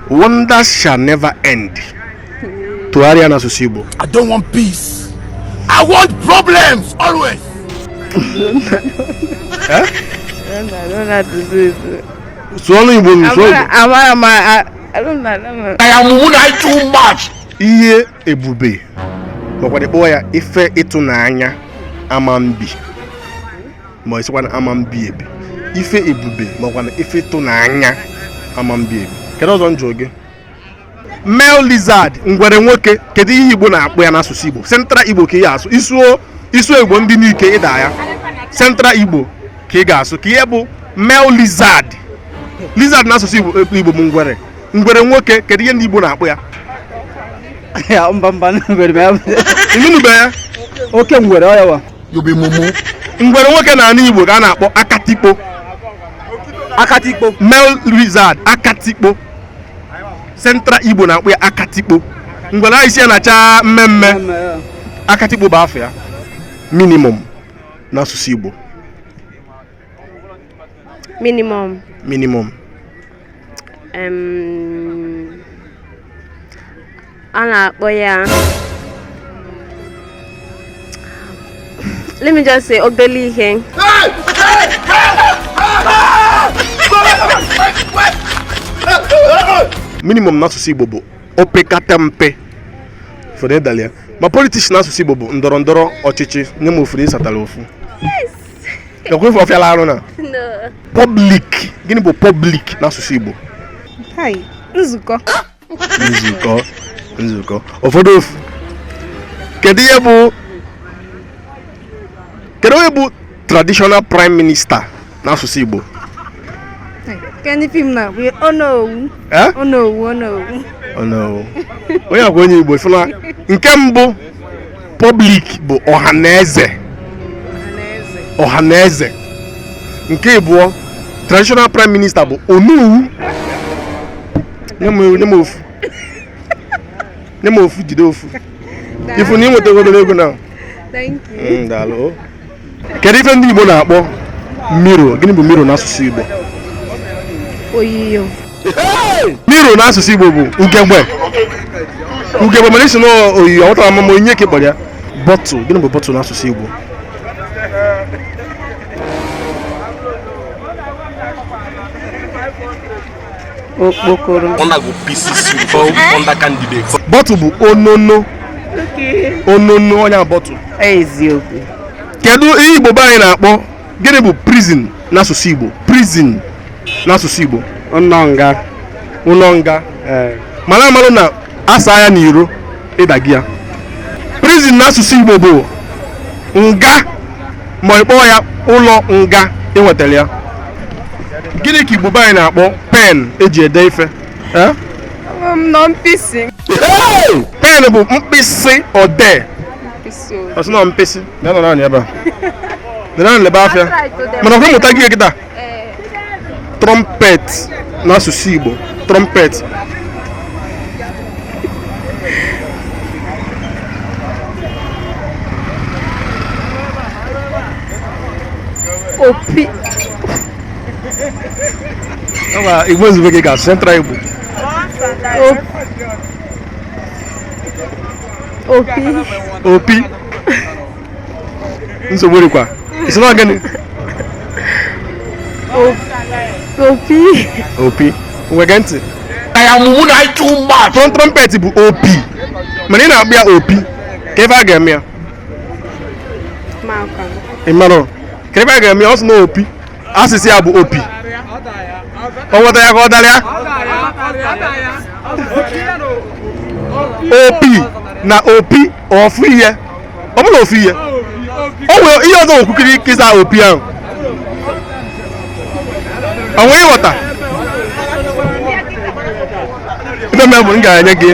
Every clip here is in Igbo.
Wonders shall never end. Tụgharịa n'asụsụ Igbo. I don't want peace. I want problems always. eh? Sụọ n'Igbo m, sụọ Igbo. Amara m, I don't know. I am wounded too much. Ihe ebube. Makwana kpọọ ya ife ịtụnanya ama mbi. ma ị sịkwa na ama mbi ebi ife ebube makwana ife ịtụnanya ama mbi ebi kedu ọzọ m jụọ gị male lizard ngwere nwoke kedu ihe igbo na-akpọ ya n'asụsụ igbo central igbo ka ị ga-asụ ị sụọ ị sụọ igbo ndị nike ị daa ya central igbo ka ị ga-asụ kee ihe bụ male lizard lizard n'asụsụ igbo igbo bụ ngwere ngwere nwoke kedu ihe ndị igbo na-akpọ ya ya mba mba ngwere ma ya bụ- ị nụnụbe ya oke ngwere ọ ya wa you be mumu ngwere nwoke na ana igbo ka a na-akpọ akatikpo akatikpo male lizard akatikpo central igbo na-akpọ ya akatikpo ngwere ahụ isi ya na-acha mmee mmee akatikpo bụ afa ya minimum n'asụsụ igbo Minimum. Minimum. Um, a na-akpọ ya let me just say obele ihe minimum n'asụsụ Igbo bụ opekata mpe fụ na ị dalụ ya ma politics n'asụsụ Igbo bụ ndọrọ ndọrọ ọchịchị nye m ofu na ị zatara ofu ekwe ife ọ fịala arụ na public gịnị bụ public n'asụsụ Igbo nzukọ nzukọ nzukọ ọ fọdụ ofu kedu ihe bụ kedu onye bụ traditional prime minister n'asụsụ Igbo kedu fim na bụ onowu onowu onowu onowu onye a kwa onye Igbo ị fụ na nke mbụ Public bụ ọha na eze ọha na eze nke ịbụọ traditional prime minister bụ onowu nye m ofu nye m ofu jide ofu ị fụ na ị nwetagodoro ego na Thank you. Mm, daalụ kedu ife ndị Igbo na-akpọ mirror gịnị bụ mirror n'asụsụ Igbo oyiyo mirror n'asụsụ Igbo bụ ugegbe ugegbe mana ị sị na oyiyo ọtara mama onye ka ị kpọrọ ya bottle gịnị bụ bottle n'asụsụ Igbo okpokoro bottle bụ onono onono onye bottle eziokwu kedu ihe igbo be anyị na-akpọ gịnị bụ prison n'asụsụ igbo prison n'asụsụ igbo ụlọ nga ụlọ nga eh. mana amalụ na asaa ya n'iro ịdagi ya prison n'asụsụ Igbo bụ nga ma ị kpọọ ya ụlọ nga i nwetara ya gịnị ka Igbo be anyị na-akpọ pen eji ede ife pen bụ mkpịsị odee ọ sị na mkpịsị na-anọ naanị ebe a na-anọ ebe afịa mana ọkwa mmụta gị kịta trumpet n'asụsụ Igbo trumpet opi Igbo izugbe ka ị ga-asụ central Igbo opi opi nsogbu dịkwa ị sị na ọ gịnị opi opi ngwa gee ntị your mumu don too much trum trumpet bụ opi mana ị na-akpọ ya opi kedu ife a ga-eme ya maka ị mara kedu ife a ga-eme ya ọ sị na opi asịsa ya bụ opi o nweta ya ka ọ dara ya opi na opi ofu ihe ọ bụrọ ofu ihe o nwere ihe ọzọ okwukiri ike ịza opi ahụ o nwere ịghọta ife mere bụ m ga-enye gị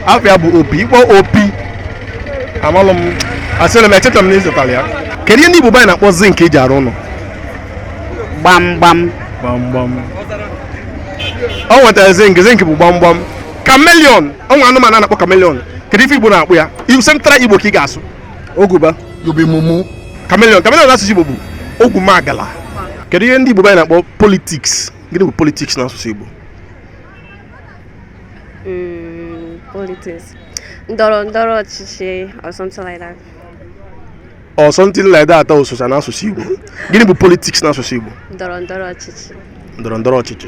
afa ya bụ opi ị kpọ opi amalụ m asịrị m echeta m na ị zatara ya kedu ihe ndị Igbo be anyị na-akpọ zinc eji arụ ụlọ gbamgbam gbamgbam o nwetara zinc zinc bụ gbamgbam chameleon o nwere anụmanụ a na-akpọ chameleon kedu ife igbo na-akpọ ya iwu central igbo ka ị ga-asụ oguba you be mumu chameleon chameleon n'asụsụ igbo bụ ogwumagala kedu ihe ndị igbo anyị na-akpọ politics gịnị bụ politics na asụsụ igbo mm, politics ndọrọ ndọrọ ọchịchị or something like that or something like that o socha na asụsụ igbo gịnị bụ politics na asụsụ igbo ndọrọ ndọrọ ọchịchị ndọrọ ndọrọ ọchịchị